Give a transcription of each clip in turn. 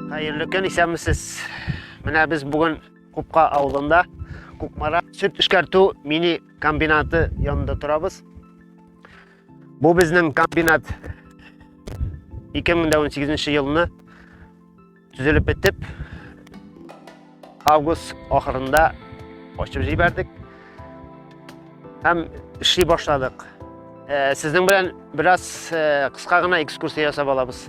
Хәерле көн, исәнмесез. Менә без бүген Купка авылында Кукмара сөт эшкәртү мини комбинаты янында торабыз. Бу безнең комбинат 2018 елны Төзелеп бетеп, август ахырында ачып җибәрдек. Һәм эшли башладык. Э, сезнең белән бераз э, кыска гына экскурсия ясап алабыз.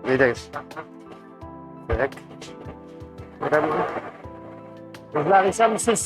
Әйдәгез. Так. Кызлар, исәнмесез?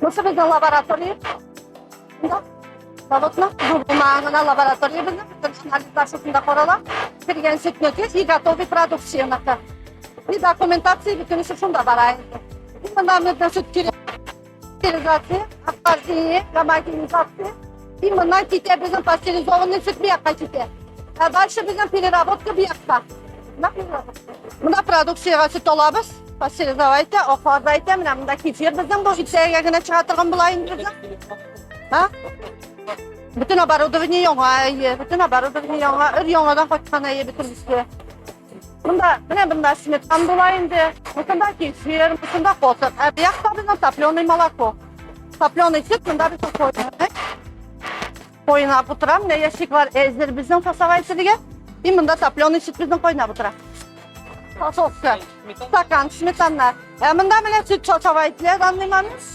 Мусы безнең лаборатория. Монда заводның булмагына лаборатория безнең бүтән анализлар шушында карала. Кергән сөтне тез и готовый продукцияне. И документация бүтән шушында бара инде. Монда безнең сөт кирәк. Стерилизация, ахлаждение, гомогенизация. И моннан китә безнең пастеризованный сөт бияка китә. А дальше безнең переработка бияка. Монда продукцияга сөт алабыз. Пастеризау әйтә, аклар да әйтә, менә монда кефир безнең бу җитсәгә генә чыга торган була инде безнең. Ха? Бөтен оборудование яңа, әйе, бөтен оборудование яңа, өр яңадан кайткан әйе бөтенесе. Монда, менә монда сметан була инде, монда кефир, монда косык. Ә бу якта безнең топленый молоко. Топленый сөт монда без куйдык. Кайнап утыра, менә ящиклар әзер безнең фасага ителергә. И монда топленый сөт безнең кайнап утыра. Фасовка, стакан, сметана. Ә монда менә сөт фасага ителә, данный момент.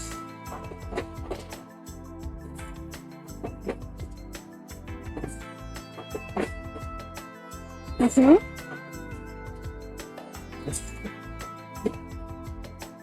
Угу.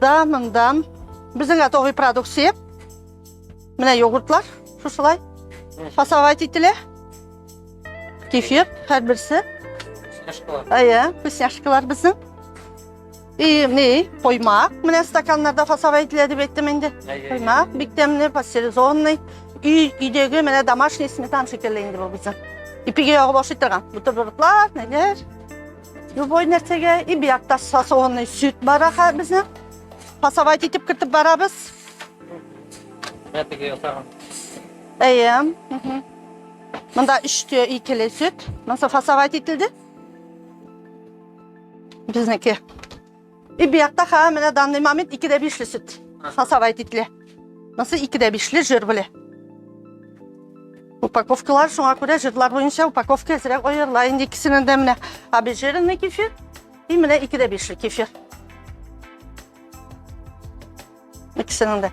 Да, мындан. Безнең готовый продукция. Менә йогуртлар, шушылай. Фасовать ителә. Кефир, һәр берсе. Әйе, вкусняшкалар безнең. И, не, коймак. Менә стаканнарда фасовать ителә дип әйттем инде. Коймак, бик тәмле, пастеризованный. Өй, өйдәге менә домашний сметан шикелле инде бу безнең. Ипиге ягып ашый торган. Бутербродлар, нәләр. Любой нәрсәгә и бу якта сасуынный сөт бар аха безнең. Пасавайт итеп кертеп барабыз. Әтеге ясаган. Әйе. Монда 3 тө икеле сөт. Монсы фасавайт ителде. Безнеке. И бияқта ха менә данный момент ике дә бишле сөт сасавай титле мысы ике дә бишле жир беле упаковкалар шуңа күрә жирлар буенча упаковка әзрәк аерыла инде икесенең дә менә обезжиренный кефир и менә ике дә бишле кефир икесенең дә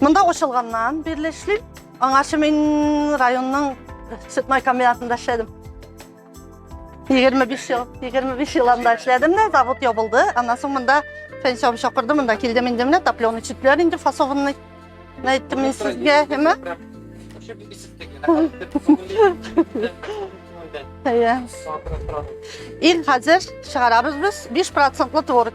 Монда кушылганнан бирле эшлим. Аңарчы мин районның сүтмай комбинатында эшләдем. 25 ел, 25 ел анда эшләдем дә, завод ябылды. Аннан соң монда пенсиям чакырды, монда килдем инде менә топленый читләр инде фасованный. Әйттем мин сезгә, әмма Ил хәзер чыгарабыз без 5 процентлы творог.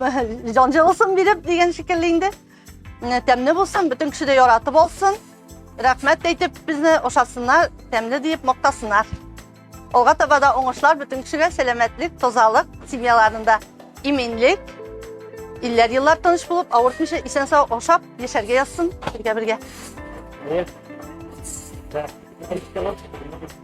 Җанҗы булсын биреп дигән шикелле инде. Менә тәмле булсын, бөтен кеше дә яратып алсын. Рәхмәт әйтеп безне ошасыннар, тәмле диеп мактасыннар. Алга таба да уңышлар бөтен кешегә сәламәтлек, тазалык, семьяларында иминлек, илләр еллар тыныч булып, авыртмыйча исән сау ашап яшәргә язсын бергә бергә. Thank you.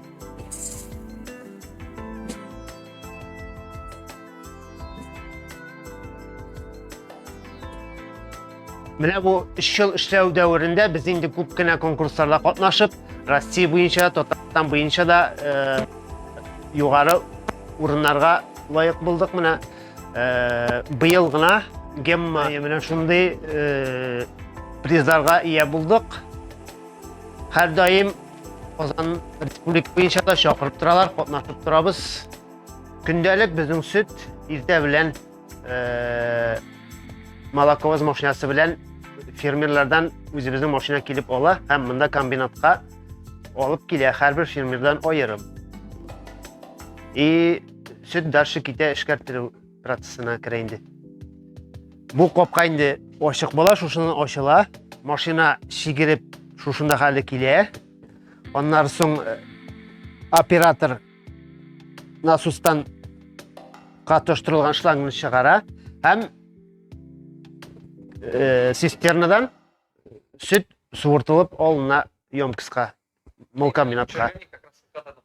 Менә бу 3 ел эшләү дәверендә без инде күп кенә конкурсларда катнашып, Россия буенча, Татарстан буенча да э, югары урыннарга лаек булдык. Менә э, быел гына Гемма менә шундый э, призларга ия булдык. Һәр даим Казан республика буенча да чакырып торалар, катнашып торабыз. Көндәлек безнең сөт иртә белән э, молоковоз машинасы белән фермерлардан үзебезнең машина килеп ала һәм монда комбинатка алып килә һәрбер фермердан аерым. И сөт дальше китә эшкәртелү процессына керә инде. Бу капка инде ачык була, шушыннан ачыла. Машина шигереп шушында хәле килә. Аннары соң э, оператор насостан катыштырылган шлангны чыгара һәм э, цистернадан сөт суыртылып алына емкостька мол комбинатка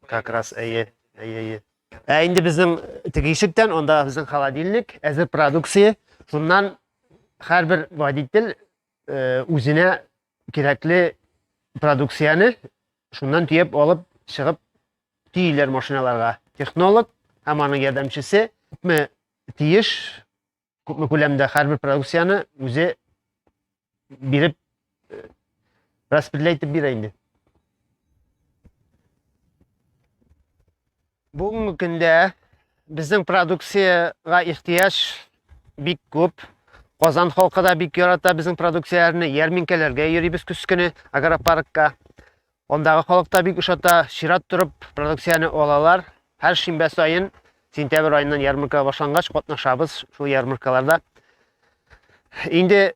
как раз әйе әйе әйе ә инде безнең теге ишектән анда безнең холодильник әзер продукция шуннан һәрбер водитель э, үзенә кирәкле продукцияне шуннан төяп алып чыгып төйләр машиналарга. Технолог һәм аның ярдәмчесе күпме тиеш, күпме күләмдә һәрбер продукцияне үзе биреп э, распределять итеп бирә инде. Бүгенге көндә безнең продукциягә ихтыяҗ бик күп. Казан халкы да бик ярата безнең продукцияләрне. Ярминкәләргә йөрибез көз көне агропаркка. Андагы халык та бик ошата, чират торып продукцияне алалар. Һәр шимбә саен сентябрь аеннан ярмарка башлангач катнашабыз шул ярмаркаларда. Инде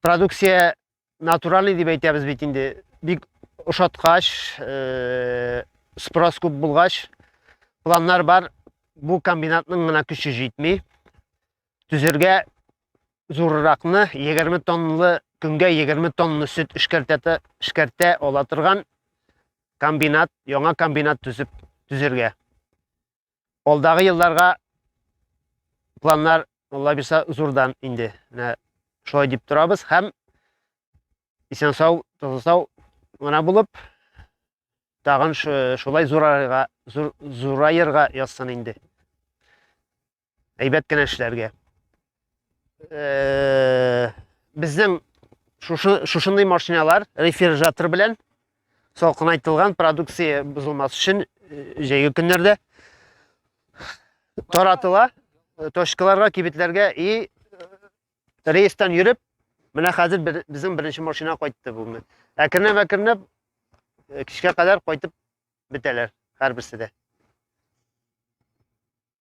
Продукция натуральный дип әйтәбез бит инде. Бик ошаткач, э, спрос күп булгач, планнар бар. Бу комбинатның гына көче җитми. Төзергә зурракны 20 тонналы көнгә 20 тонна сөт эшкәртә эшкәртә ала торган комбинат, яңа комбинат төзеп төзергә. Алдагы елларга планнар Алла бирса зурдан инде. Менә шулай дип торабыз һәм исән сау, таза сау гына булып тагын шулай зурайырга зур, зурайырга язсын инде. Әйбәт кенә эшләргә. Э, безнең шушы шушындый машиналар рефрижератор белән салкынайтылган продукция бозылмас өчен э, җәйге көннәрдә таратыла э, точкаларга кибетләргә и э, рейстан йөреп менә хәзер бер, безнең беренче машина кайтты бүгенге әкренләп әкренләп кичкә кадәр кайтып бетәләр һәрберсе дә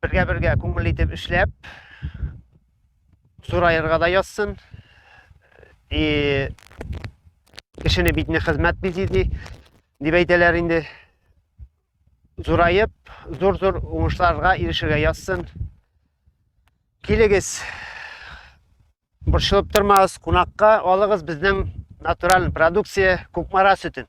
Бергә-бергә күңелле итеп эшләп, зураерга да язсын. И кешене битне хезмәт бизи ди, дип әйтәләр инде. Зураеп, зур-зур уңышларга ирешергә язсын. Килегез, борчылып тормагыз, кунакка алыгыз безнең натураль продукция Кукмара сөтен.